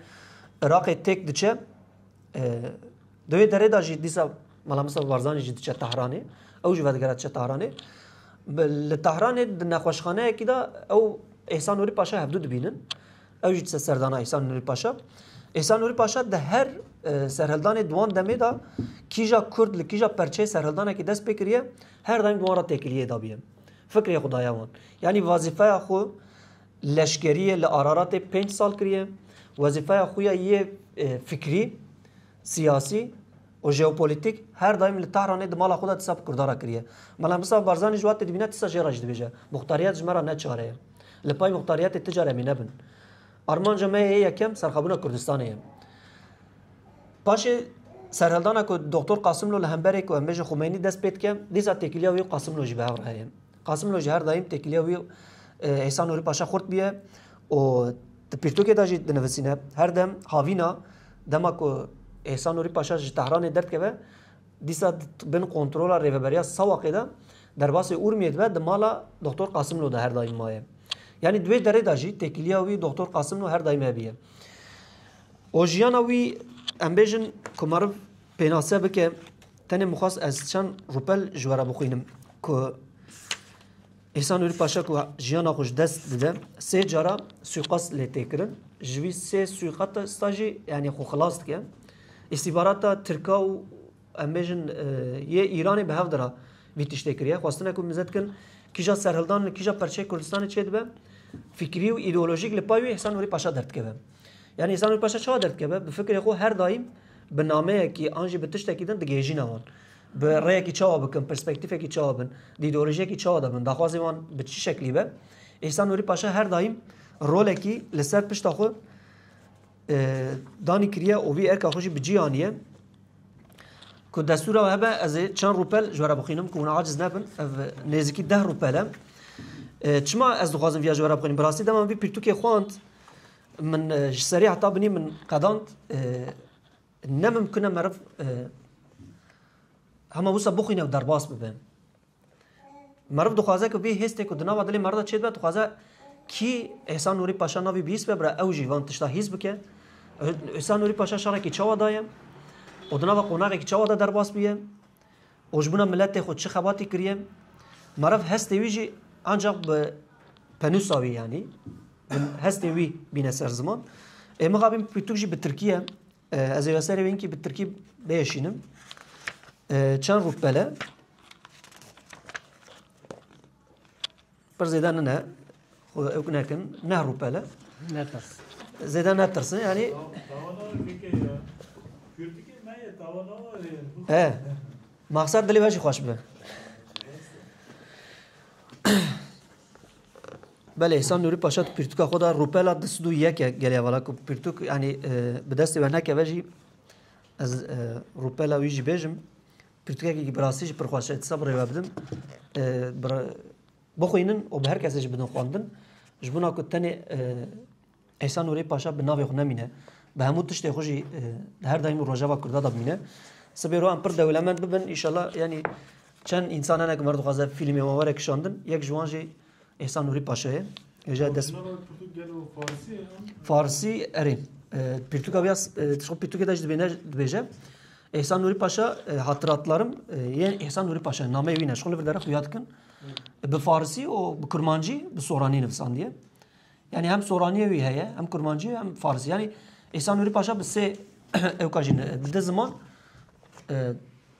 A: Iraqê têk diçe di wê derê da jî dîsa Mala Mustafa Barzanî jî diçe Tehranê ew jî vedigera diçe Tehranê li Tehranê di nexweşxaneyekî da ew Ehsan Nûrî Paşa hevdû dibînin ew jî dise serdana Ehsan Nûrî Paşa Ehsan Nûrî Paşa di her serhildanê duwan demê da kîja Kurd li kîja perçeyê serhildanekî dest pê kiriye her daîm duwan re têkiliyê dabîye. Fikrê xwe daye wan. Yanî vazîfeya xwe leşkeriyê li Araratê pênc sal kiriye. Wezîfeya xwe ya yê fikrî, siyasî û jeopolitîk her daîm li Tehranê di mala xwe de tisa bi Kurdan re kiriye. Mela Mustafa Barzanî ji watê dibîne tisa jê re jî dibêje. Muxtariyet ji me re ne çare ye. Li pey muxtariyetê ti caremî nebin. Armanca me yê yekem serxwebûna Kurdistanê ye. Paşê serhildana ku Doktor Qasimlo li hemberê ku em bêjin Xumeynî dest pê dike, dîsa têkiliya wî û Qasimlo jî bi hev re heye. Qasimlo ji her daîm têkiliya wî Îsa Nûrî Paşa xurt bûye û di pirtûkê de jî dinivisîne. Her dem havîna dema ku Îsa Nûrî Paşa ji Tehranê derdikeve Dîsa di bin kontrola Rêveberiya Sawaqê de derbasê Urmiyê dibe di mala Doxtor Qasimlo de her daîm maye. Yanî di wê derê de jî têkiliya wî Doxtor Qasimlo her daîm hebûye. O jiyana wî em bêjin ku meriv pênase bike tenê mixwest ez çend rûpel ji we re bixwînim ku Îhsan Nûrî Paşa ku jiyana xwe ji dest dide sê cara sûîqast lê tê kirin. Ji wî sê sûîqasta jî yanî xwe xilas dike. Îstîbarata Tirka û em bêjin yê Îranê bi hev dira vî tiştê kiriye. Xwestine ku mize dikin kîja serhildan li kîja perçeyê Kurdistanê çêdibe fikrî û îdeolojîk li pay wî Îhsan Nûrî Paşa derdikeve. Yanî Îhsan Nûrî Paşa çawa derdikeve? Bi fikrê xwe her daîm bi nameyekî an jî bi tiştekî din digihêjîne wan. Bi rêyekî çawa bikin, perspektîfekî çawa bin, dîdolojiyekî çawa de bin, daxwazên wan bi çi şeklî be, Îhsan Nûrî Paşa her daîm rolekî li ser pişta xwe danî kiriye û vî erka xwe jî bi cî aniye. Ku destûra hebe ez ê çend rûpel ji were bixwînim ku hûn aciz nebin. Ev nêzîkî deh rûpel e. Çima ez dixwazim viya ji were bixwînim? Bi rastî dema vî pirtûkê xwand min ji serî heta binî min qedand Ne mimkun e meriv hema wisa bixwîne û derbas bibe. Meriv dixwaze ku vê hêstê ku di nava dilê meriv de çê dibe dixwaze kî Îhsan Nûrî Paşa navî bihîst be bira ew jî van tişta hîs bike. Îhsan Nûrî Paşa şarekî çawa daye û di nava qonaxekî çawa de derbas bûye. Rojbûna miletê xwe çi xebatî kiriye? Meriv hestê wî jî ancak bi penûsa wî yanî hestê wî bîne ser ziman. Ê min xabîn pirtûk jî bi Tirkî ye. Ez ê serê wê inkî bi Tirkî bêşînim. Çend rûpele Pir zêde nine xwe ew nekin, nehrûpele. Netirs. Zêde netirsin yani. He. Maksat dilê we jî xweş be. Belê Hîsan Nûrî Paşa tu pirtûka xwe da rûpela di sid û yeke gelê hevala ku pirtûk yanî e, bi destê we nekeve jî ez e, rûpela wî jî bêjim Pirtûkekî bi rastî jî pir xweş e. Disa bi rê we bidin. Bixwînin û bi her kesê jî bidin xwendin. Ji bona ku tenê Îsa Nûrê Paşa bi navê xwe nemîne. Bi hemû tiştê xwe jî di her daîm û rojeva Kurda de bimîne. Sibê ro em pir dewlemend bibin. Îşallah yanî çend însan hene ku mer dixwaze fîlmê wan were kişandin. Yek ji wan jî Îhsan Nûrî Paşayê hêja dest. Farsî erê. Pirtûka vêya pirtûkê de jî dibêne dibêje. Îhsan Nûrî Paşa hatiratlarım yên Îhsan Nûrî Paşa nameyê wî ne ji xwe li vir dere xuya dikin. Bi farsî û bi kurmancî bi soranî nivisandiye. Yani hem soraniyê wî heye, hem kurmancî hem farsî. Yani Îhsan Nûrî Paşa bi sê ewka jî di ziman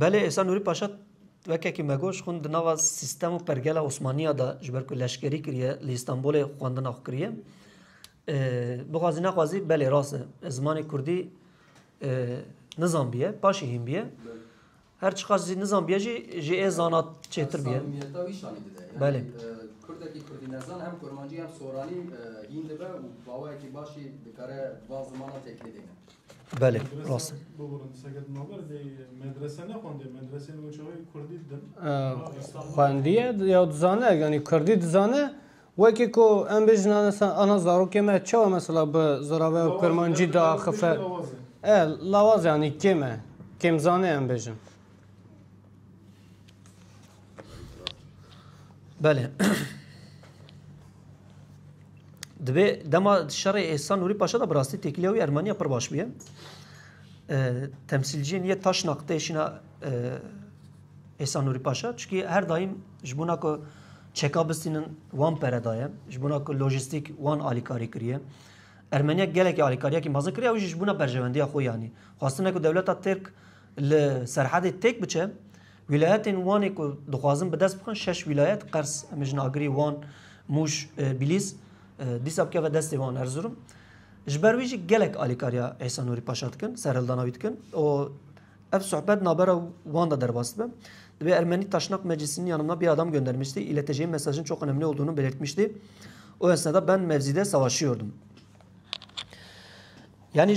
A: Belê êsan Nûrî Paşa wekekî me got ji xwin di nava sîstem û pergela Osmaniya de ji ber ku leşkerî kiriye li Îstanbulê xwendina xwe kiriye. Bixwazî nexwazî belê rast e. Ez zimanê Kurdî nizanbiye, paşî hîn biye. Her çiqas zî nizanbiye jî ji ê zana çêtir biye. Belê. Kurdekî Kurdî nezan hem kurmancî hem soranî hîn dibe û bawayekî başî dikare van zimanan têkilî bîne. Belê, rast e. Xwendiye ya dizane, yanî Kurdî dizane, wekî ku em bêjin ana zarokê me çawa mesela bi ziraveya kurmancî diaxife. E lawaz e yanî kêm e. Kêmzanê em bêjin. Belê. Divê dema şerê êsa Nûrî Paşa da bi rastî têkiliya wî Ermeniya pir baş bûye. Temsîlciyên yê taş naqtê şîna êsa Nûrî Paşa çikî her daîm ji bona ku çeka bistînin wan pere daye, ji bona ku lojîstîk wan alîkarî kiriye. Ermeniya gelekî alîkariyekî mezin kiriye ew jî ji bona berjevendiya xwe yanî. Xwastine ku dewleta Tirk Li Serhedê têk biçe, wîlayetên Wanê ku dixwazin bi dest bixin şeş wîlayet, Qers, Mijnagirî, Wan, Mûş, Bîlîs, dîsa bikeve destê wan Erzurum. Ji ber wî jî gelek alîkariya Îsa Nûrî Paşa dikin, serhildana wî dikin û ev sohbet navbera wan de derbas dibe. Divê Ermenî Taşnak Meclisînî yanimda bî adam göndermiştî, îletejeyî mesajin çok önemli olduğunu belirtmiştî. O esnada ben mevzîde savaşıyordum. Yani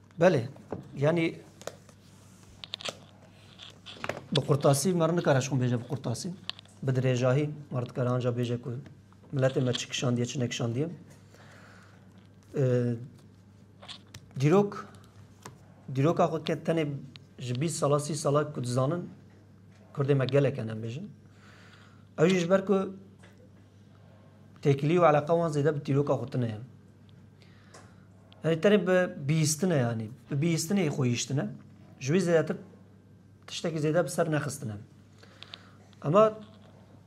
A: Belê yanî bi qurtasî me re nikare ji xwe bêje bi qurtasî bi dirêjahî me re dikare anca bêje ku miletê me çi kişandiye çi nekişandiye. Dîrok dîroka xwe ke tenê ji bîst sala sî sala ku dizanin Kurdê me gelek em bêjin. Ew jî ji ber ku têkilî û eleqa wan zêde bi dîroka xwe tune ye. Erê tenê bi bîstine yanî bi bîstinê xwe hiştine ji wî zêdetir tiştekî zêde bi ser nexistine. Ema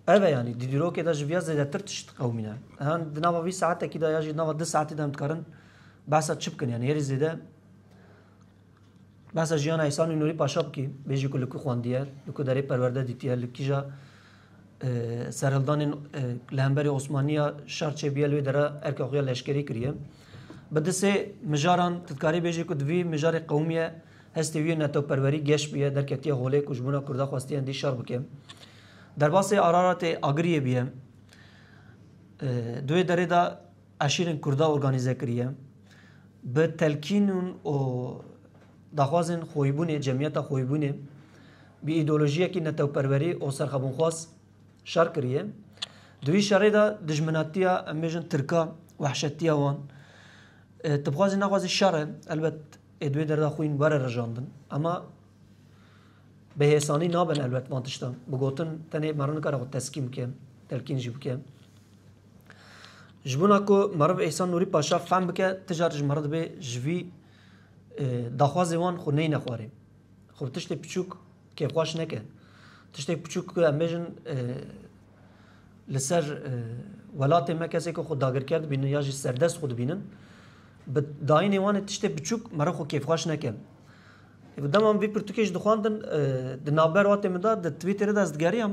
A: ev e yanî di dîrokê de ji viya zêdetir tişt qewmîne. Yan di nava vî saetekî de ya jî di nava di saetî de em dikarin behsa çi bikin yanî herî zêde Behsa jiyana Îhsanî Nûrî Paşa bikî, bêjî ku li ku xwendiye, li ku derê perwerde dîtiye, li kîja serhildanên li hemberî Osmaniya şer çêbûye li wê dere erka xwe ya leşkerî kiriye. Bi di sê mijaran tu dikarî bêjî ku di vî mijarê qewimiye hestê wî yê netewperwerî geş bûye, derketiye holê ku ji bona Kurda xwestiye hindî şer bike. Derbasê Araratê Agiriyê bûye. Di wê derê de Eşîrên Kurda organîze kiriye bi telkînûn û daxwazên xoybûnê, cemiyeta xoybûnê bi îdeolojiyekî netewperwerî û serxebûnxwaz şer kiriye. Di wî şerê de dijminatiya em bêjin tirka wehşetiya wan ti bi xwazî nexwazî şer e. Elbet ê di wê derda xwîn were rijandin. Ema bi hêsanî nabin elbet van tiştan. Bi gotin tenê meriv nikare xwe teskîn bike, telkîn jî bike. Ji bona ku meriv Îhsan Nûrî Paşa fehm bike tije re ji meriv dibê ji vî daxwazê wan xwe neyne xwarê. Xwe bi tiştê piçûk kêfxweş neke. Tiştê piçûk ku em bêjin li ser welatê me kesekî xwe dagirker dibînin ya jî serdest xwe dibînin bi dayînê wan ê tiştê piçûk meriv xwe kêfxweş neke. Bi dema min vî pirtûkê jî dixwendin di navber watê min de di twîtterê de ez digeriyam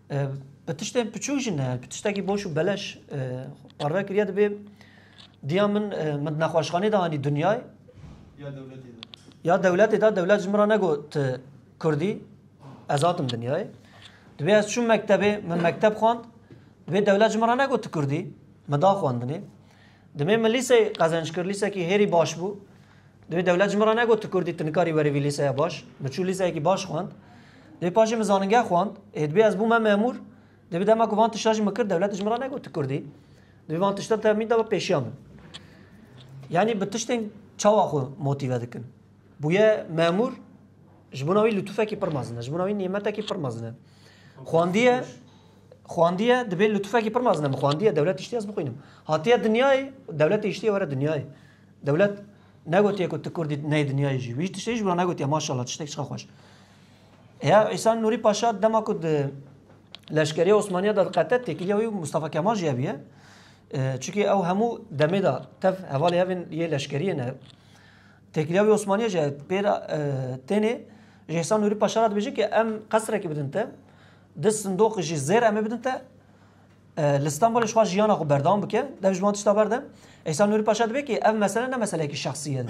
A: Bi tiştên piçûk jî ne, bi tiştekî boş û beleş parve kiriye dibê diya min min nexweşxanê de anî dinyay ya dewletê de dewlet ji min ra negot kurdî ez hatim dinyayê dibê ez çûm mektebê min mekteb xwand dibê dewlet ji min ra negot kurdî min da xwendinê dimê min lîsey qezenc kir lîsekî hêrî baş bû Divê dewlet ji min re negot tu Kurdî tu nikarî werî vî lîseya baş. Min çû lîseyekî baş xwend. Divê paşê min zanîngeha xwend. Êdibê ez bûme memûr. Divê bi dema ku van tişta jî min kir dewlet ji min re negot tu Kurdî. Divê van tişta temîn da bi pêşiya min. Yanî bi tiştên çawa xwe motîve dikin. Bûye memûr ji bona wî lutufekî pir mezin e. Ji bona wî nîmetekî pir mezin e. Xwendiye xwendiye dibê lutufekî pir mezin e. Xwendiye dewlet tiştî ez bixwînim. Hatiye dinyayê dewletê tiştî were dinyayê. Dewlet negotiye ku tu Kurdî neyê dinyayê jî. Wî ji tiştê jî wina negotiye maşallah tiştek çiqa xweş. Ya Îsan Nûrî Paşa dema ku di leşkerîya Osmaniya da diqete têkiliya wî Mustafa Kemal jî heviye. Çikî ew hemû demê da tev hevalê hevên yê leşkeriyê ne. Têkiliya wî Osmaniya jî pêr tênê ji Îsan Nûrî Paşa ra dibêje ki em qesrekî bidin te, di sindoqî jî zêr em ê bidin te Li Stenbolê dixwaz jiyana xwe berdewam bike, dev ji wan tişta berde. Îhsan Nûrî Paşa dibe ki ev mesele ne meseleyekî şexsî ye.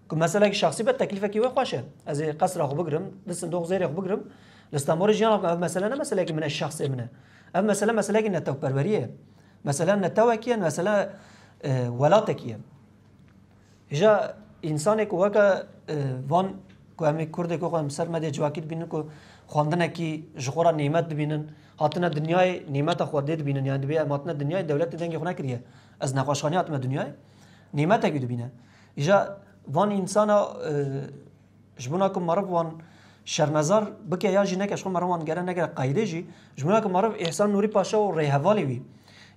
A: Ku meseleyekî şexsî be teklîfekî wê xweş e. Ez ê qesra xwe bigirim, di sindoq zêrê xwe bigirim. Li Stenbolê jiyana bikim. Ev mesele ne meseleyekî min e, şexsê min e. Ev mesele meseleyekî netewperweriyê ye. Mesele netewekî ye, mesele welatekî ye. Hêja însanê ku weke van ku em ê Kurdê ku xwe em ser medê civakî dibînin ku xwendinekî ji xwe re nîmet dibînin, hatine dinyayê nîmeta xwe dê dibînin yani dibê em hatine dinyayê dewletê dengê xwe nekiriye. Ez nexweşxaneyê hatime dinyayê nîmetekî dibîne. Îja van însana ji bona ku meriv wan şermezar bike ya jî neke ji xwe meriv wan gere negere qeydê jî ji bona ku meriv Îhsan Nûrî Paşa û rêhevalê wî.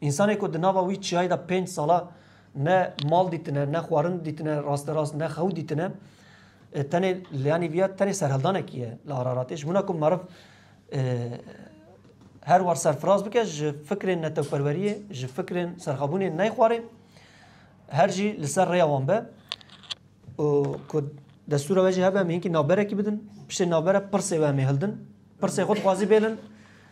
A: Însanê ku di nava wî çiyayê de pênc sala Ne mal dîtine, ne xwarin dîtine, rasterast ne xew dîtine. E, tenê liyanî viya tenê serheldanekî ye li Araratê. Ji mina ku meriv e, her war serfiraz bike ji fikrên netewperweriyê, ji fikrên serxabûnê neyxwarê. Her jî li ser rêya wan be. û ku destûra we jî hebe em hinkî navberekî bidin. Piştê navbere pirsê we em ê hildin. Pirsê xwe dixwazî bêlin.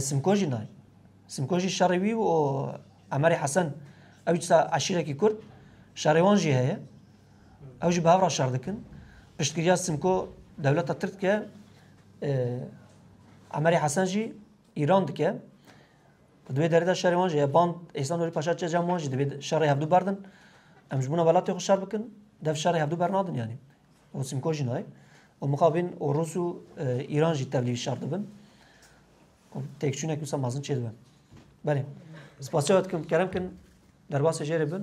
A: Simko jî nayê. Simko jî şerê wî û Emerê Hesen ew jî disa eşîrekî Kurd şerê wan jî heye. Ew jî bi hev re şer dikin. Piştgiriya Simko dewleta Tirk dike. Emerê Hesen jî Îran dike. Di wê derê de şerê wan jî heye. Band Êsan Nurî Paşa çê cem wan jî divê şerê hevdû berdin. Em ji bûna welatê xwe şer bikin. Dev şerê hevdû bernadin yanî. û simko jî nayê. Û mixabîn û Rûs û Îran jî tevlî şer dibin. Têkçûnek wisa mazin çê dibin. Belê. Spasya wet kim kerem kin derbasê jêrê bin.